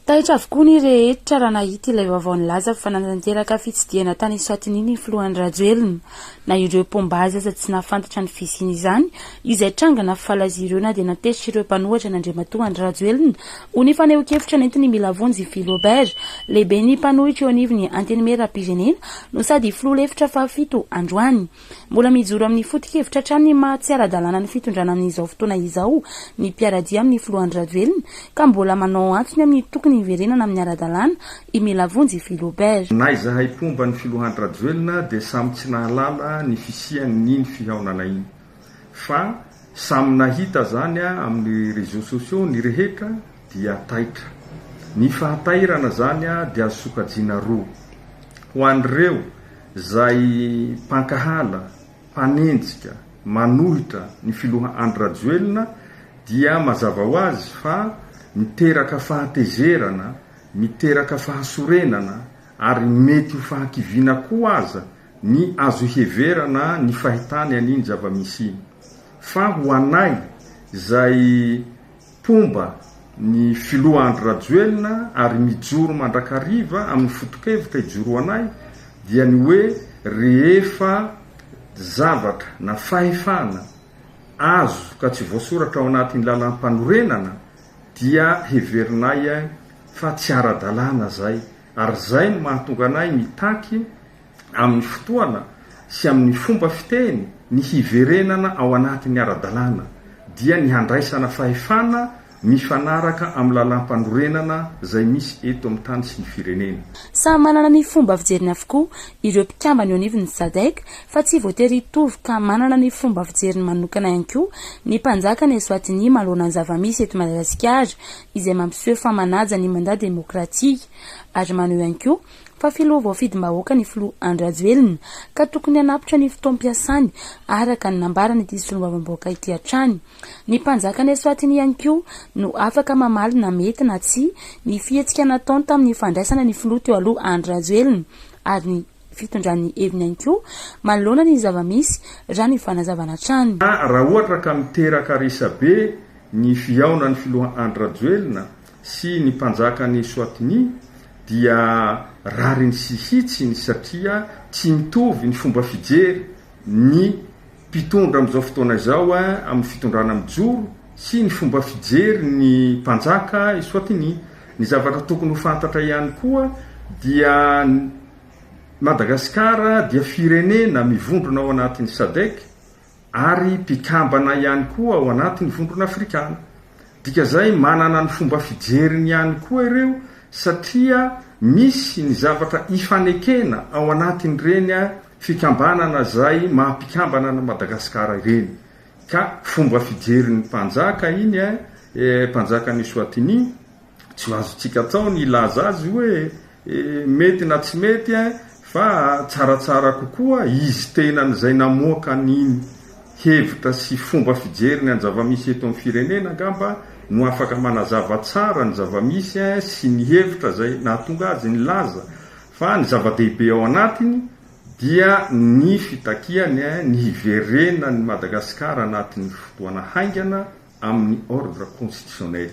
Taitra avokoa ny rehetra raha nahita ilay vaovao nilaza fa nanatanteraka fitsidihana tany Eswatini ny filoha Andry Rajoelina. Na ireo mpomba azy aza tsy nahafantatra ny fisian'izany izay tranga nafaly azy ireo na dia natezitra ireo mpanohatra an'Andriamatoa Andry Rajoelina ho ny fanehoan-kevitra nentiny mila vonjy i Philo Bert, lehiben'ny mpanohitra eo anivon'ny Antenimierampirenena no sady filoha lefitra fahafito androany. Mbola mijoro amin'ny foto-kevitra hatrany ny maha tsy ara-dalàna ny fitondrana amin'izao fotoana izao ny mpiara-dia amin'ny filoha Andry Rajoelina ka mbola manao antony amin'ny tokony hiverenana amin'ny ara-dalàna i Melavonjy Philobert. Na izahay mpomba ny filoha Andry Rajoelina dia samy tsy nahalala ny fisian'iny fihaonana iny fa samy nahita izany amin'ny réseaux sociaux ny rehetra dia taitra. Ny fahatairana izany dia azo sokajiana roa. Ho an'ireo Izay mpankahala, mpanenjika, manohitra ny filoha Andry Rajoelina dia mazava ho azy fa miteraka fahatezerana, miteraka fahasorenana ary mety ho fahakiviana koa aza ny azo iheverana ny fahitany an'iny zava-misy iny. Fa ho anay izay. Mpomba ny filoha Andry Rajoelina ary mijoro mandrakariva amin'ny foto-kevitra ijoroanay dia ny hoe rehefa zavatra na fahefana azo ka tsy voasoratra ao anatin'ny lalam-panorenana dia heverinay fa tsy ara-dalàna izay ary izay no mahatonga anay mitaky amin'ny fotoana sy amin'ny fomba fiteny, ny hiverenana ao anatin'ny ara-dalàna, dia ny handraisana fahefana mifanaraka amin'ny lalàmpanorenana izay misy eto amin'ny tany sy ny firenena. Samy manana ny fomba fijeriny avokoa ireo mpikambana eo anivon'ny Sadc fa tsy voatery hitovy ka manana ny fomba fijeriny manokana ihany koa ny mpanjaka any Eswatini manoloana ny zava-misy eto Madagasikara izay mampiseho fa manaja ny mandat demokratika ary maneho ihany koa fa filoha voafidim-bahoaka ny filoha Andry Rajoelina ka tokony hanapitra ny fotoam-piasany, araka ny nambaran'ity solombavambahoaka ity hatrany. Ny mpanjakan'i Eswatini ihany koa no afaka mamaly na mety na tsia ny fihetsika nataony tamin'ny fandraisana ny filoha teo aloha Andry Rajoelina ary ny fitondrany ny heviny ihany koa manoloana ny zava-misy, raha ny fanazavana hatrany. Raha ohatra ka miteraka resabe ny fihaonan'ny filoha Andry Rajoelina, sy ny mpanjakan'i Eswatini dia rariny sy hitsiny satria tsy mitovy ny fomba fijery ny mpitondra amin'izao fotoana izao amin'ny fitondrana mijoro sy ny fomba fijery ny mpanjaka Eswatini. Ny zavatra tokony ho fantatra ihany koa dia Madagasikara dia firenena mivondrona ao anatin'ny Sadc ary mpikambana ihany koa ao anatin'ny Vondrona Afrikana. Dika izay manana ny fomba fijeriny ihany koa ireo satria misy ny zavatra ifanekena ao anatin'ireny fikambanana izay maha mpikambana an'i Madagasikara ireny ka fomba fijerin'ny mpanjaka iny eh, mpanjakan'i Eswatini, Tsy ho azontsika atao ny hilaza azy hoe mety na tsy mety eh, fa tsaratsara kokoa izy tenany izay namoaka ny hevitra sy fomba fijery ny anzava-misy eto amin'ny firenena angamba no afaka manazava tsara ny zava-misy eh sy ny hevitra izay nahatonga azy nilaza fa ny zava-dehibe ao anatiny dia ny fitakiany eh ny hiverenan'i Madagasikara anatin'ny fotoana haingana amin'ny ordre constitutionnel.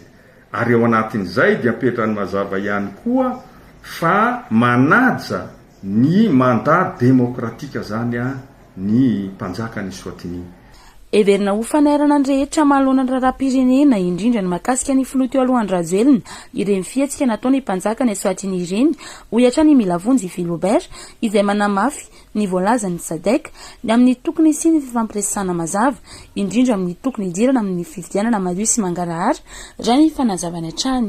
Ary ao anatin'izay dia apetrany mazava ihany koa fa manaja ny mandat démocratique izany ny mpanjaka any Eswatini. Heverina ho fanairana ny rehetra manoloana ny raharaham-pirenena, indrindra ny mahakasika ny filoha teo aloha Andry Rajoelina, ireny fihetsika nataon'ny mpanjaka any Eswatini ireny, hoy hatrany i Milavonjy Philobert, izay manamafy, ny voalazan'ny Sadec ny amin'ny tokony hisian'ny fifampiresahana mazava, indrindra amin'ny tokony hidirana amin'ny fifidianana madio sy mangarahara, raha ny fanazavany hatrany.